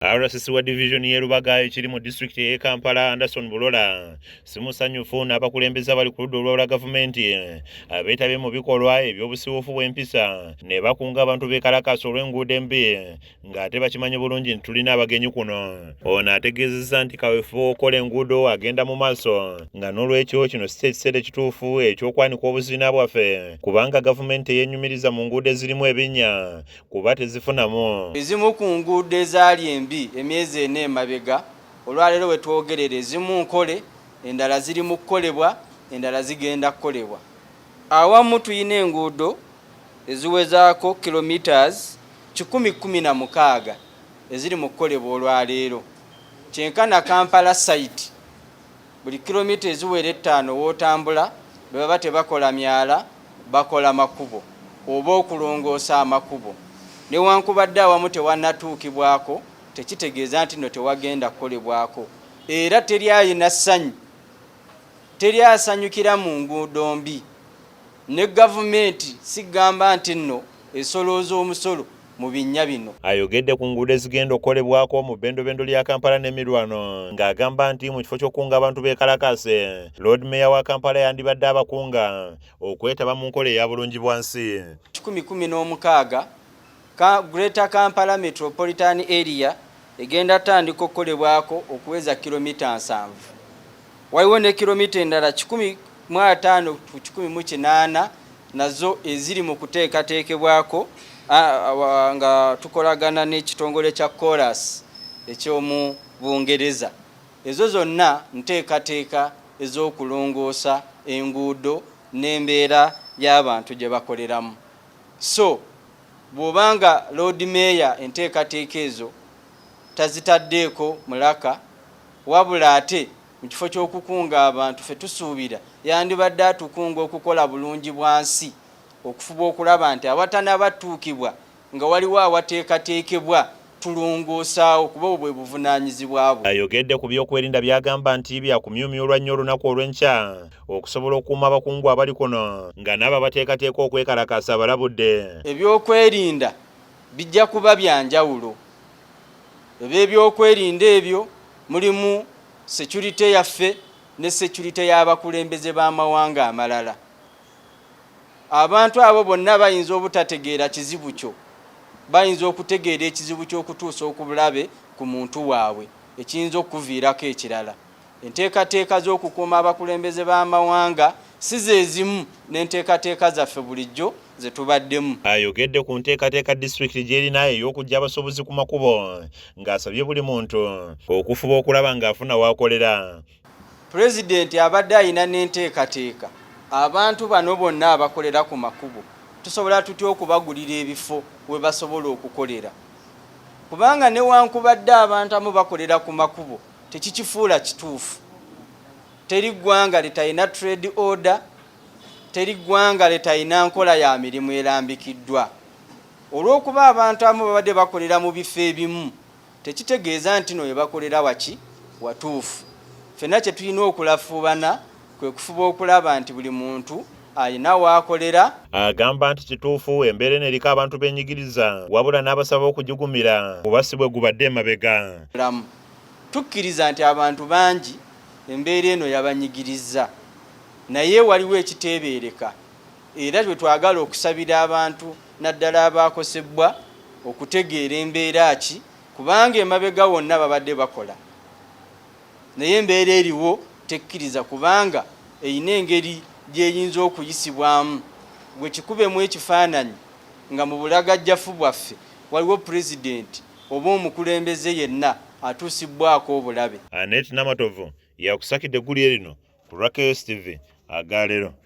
RCC wa division y'e Lubaga ekiri mu disitulikiti ey'e Kampala Anderson Bulola simusanyufu n'abakulembeze abali ku ludda olwawula gavumenti abeetabye mu bikolwa eby'obusiwuufu bw'empisa ne bakunga abantu beekalakaasa olw'enguudo embi ng'ate bakimanyi bulungi nti tulina abagenyi kuno. Ono ategeezezza nti kaweefube w'okukola enguudo agenda mu maaso nga n'olwekyo kino si kyekiseera ekituufu eky'okwanika obuziina bwaffe kubanga gavumenti eyenyumiriza mu nguudo ezirimu ebinnya kuba tezifunamu. Ezimu ku nguudo ezaali embi emyezi ena emabega olwaleero we twogerera ezimu nkole, endala ziri mu kukolebwa, endala zigenda kukolebwa. Awamu tulina enguudo eziwezaako kilometres kikumi kkumi na mukaaga eziri mu kukolebwa olwaleero kyenkana Kampala site. Buli kilomita eziwera ettaano w'otambula bwe baba tebakola myala bakola makubo oba okulongoosa amakubo. Newankubadde awamu tewannatuukibwako tekitegeeza nti no tewagenda kukolebwako era teri alina ssanyu, teri asanyukira mu nguudo mbi. Ne gavumenti sigamba nti nno esolooza omusolo mu binnya bino. Ayogedde ku nguudo ezigenda okukolebwako mu bendobendo lya Kampala n'emirwano ng'agamba nti mu kifo ky'okukunga abantu beekalakaase, Lord Mayor wa Kampala yandibadde abakunga okwetaba mu nkola eya Bulungibwansi. kikumi kumi n'omukaaga Ka Greater Kampala Metropolitan Area egenda tandika okukolebwako okuweza kilomita nsanvu. Waliwo ne kilomita endala kikumi mu ataano ku kikumi mu kinaana nazo eziri mu kuteekateekebwako nga tukolagana n'ekitongole kya Colas eky'omu Bungereza. Ezo zonna nteekateeka ez'okulongoosa enguudo n'embeera y'abantu gye bakoleramu. So bw'oba nga Loodi Meeya enteekateeka ezo tazitaddeeko mulaka wabula ate mu kifo ky'okukunga abantu ffe tusuubira yandibadde atukunga okukola Bulungibwansi okufuba okulaba nti awatanaba ttuukibwa nga waliwo awateekateekebwa tulongoosaawo kuba obwo bwe buvunaanyizibwa bwe. Ayogedde ku byokwerinda by'agamba nti byakumyumyulwa nnyo olunaku olw'enkya okusobola okukuuma abakungu abali kuno nga n'abo abateekateeka okwekalakaasa abalabudde. Ebyokwerinda bijja kuba bya njawulo. Eby'ebyokwerinda ebyo mulimu securite yaffe ne securite y'abakulembeze b'amawanga amalala. abantu abo bonna bayinza obutategeera kizibu kyo bayinza okutegeera ekizibu ky'okutuusa okubulabe ku muntu waabwe ekiyinza okukuviirako ekirala enteekateeka z'okukuuma abakulembeze b'amawanga si zezimu n'enteekateeka zaffe bulijjo ze tubaddemu ayogedde ku nteekateeka disitulikiti gy'erina ey'okujja abasuubuzi ku makubo ng'asabye buli muntu okufuba okulaba ng'afuna w'akolera Pulezidenti abadde alina n'enteekateeka abantu bano bonna abakolera ku makubo tusobola tutya okubagulira ebifo we basobola okukolera kubanga newankubadde abantu amu bakolera ku makubo tekikifuula kituufu teri ggwanga litalina trade order teri ggwanga litalina nkola ya mirimu erambikiddwa olw'okuba abantu amu babadde bakolera mu bifo ebimu tekitegeeza nti no webakolera waki watuufu. Ffenna kye tulina okulafuubana kwe kufuba okulaba nti buli muntu alina waakolera. Agamba nti kituufu embeera eno eriko abantu benyigiriza wabula n'abasaba okugigumira kuba si bwe gubadde emabega. Tukkiriza nti abantu bangi embeera eno yabanyigirizza naye waliwo ekiteebeereka era lwe twagala okusabira abantu naddala abaakosebbwa okutegeera embeera ki kubanga emabega wonna babadde bakola naye embeera eriwo tekkiriza kubanga erina engeri gy'eyinza okuyisibwamu gwe kikubemu ekifaananyi nga mu bulagajjafu bwaffe waliwo pulezidenti oba omukulembeze yenna atuusibbwako obulabe. Annet Namatovu yakusakidde eggulire lino ku Rakeus TV aga leero.